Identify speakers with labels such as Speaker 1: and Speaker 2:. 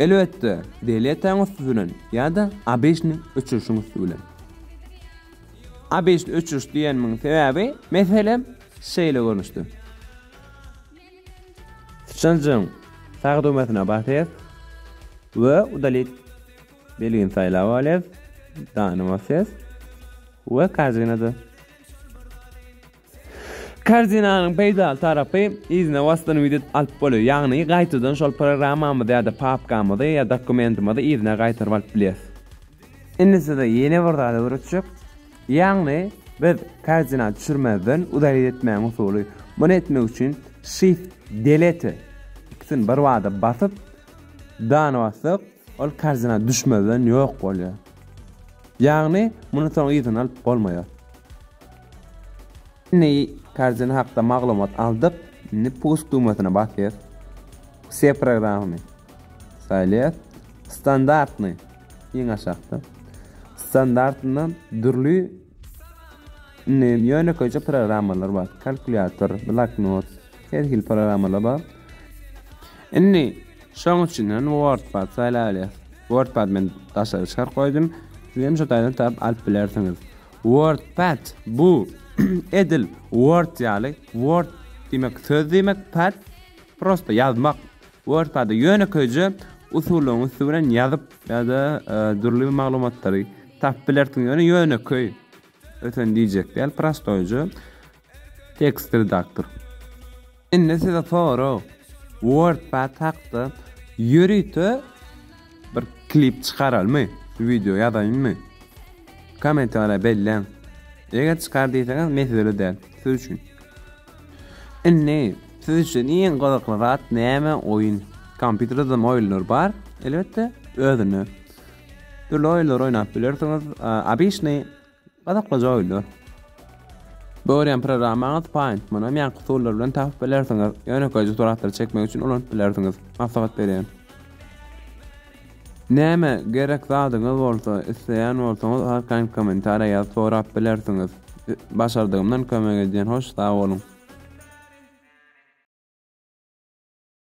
Speaker 1: Elbetde, Deliýatäň üsti bilen ýa-da ABŞ-ny öçürişiň üsti bilen. ABŞ-ny öçüriş diýenimiň sebäbi, meselem, şeýle görnüşde. Syçanjygyň sag düwmesine basýas we udalit belgini saýlap alýas, dany basýas we kazynada. Karzinanyň peýdaly tarapy, yzyna wasdan widit alyp bolýar, ýagny gaýtadan şol programmamyzy ýa-da papkamyzy ýa dokumentimizi yzyna gaýtaryp alyp bilýäs. Indi size ýene bir zat öwretjek, ýagny biz karzina düşürmezden uda widit etmäň usuly. Muny etmek üçin Shift Delete ikisini birbada basyp Done bassak, ol karzina düşmezden ýok bolýar. Ýagny muny soň yzyna alyp bolmaýar. Indi karjyny hakda maglumat aldyk. Indi push düwmesine basýas. Wse programmy saýlaýas. Standartny iň aşakda. Standartynda dürli indi ýönekeýje programmalar bar. Kalkulýator, bloknot, her hil programmalar bar. Indi şoň üçin hem WordPad saýlaýas. WordPad men daşary çykaryp goýdum. Siz hem şu taýdan tap alyp bilersiňiz. Wordpad bu edil word ýaly, word diýmek söz diýmek, pad prosta ýazmak. Wordpada ýönekeýje usullaryň üsti bilen ýazyp ýa-da e, dürli bir maglumatlary tapyp bilersiň, ýöne ýönekeý öten diýjek däl, prostoýja. Tekst redaktor. Indi size sorag. Wordpad hakda ýörite bir klip çykaralmy? Wideo ýazaýynmy? Kommentariýa belläň. Eger çykar diýseňiz mesele däl. Siz üçin. Indi siz üçin iň gyzykly zat näme? Oýun. Kompýuterde hem oýunlar bar. Elbetde özüne. Dürli oýunlar oýnap bilersiňiz. Abyşny Gyzyklyja oýlar. Görýän programmaňyz Paint, munam ýanky usullar bilen tapyp bilersiňiz. Ýönekeýje suratlary çekmek üçin ulanyp bilersiňiz. Maslahat berýän. Näme gerek zadyňyz bolsa, isleýän bolsaňyz arkaýyn kommentariýa ýazyp sorap bilersiňiz. Başardygymdan kömek edýän hoş sag boluň.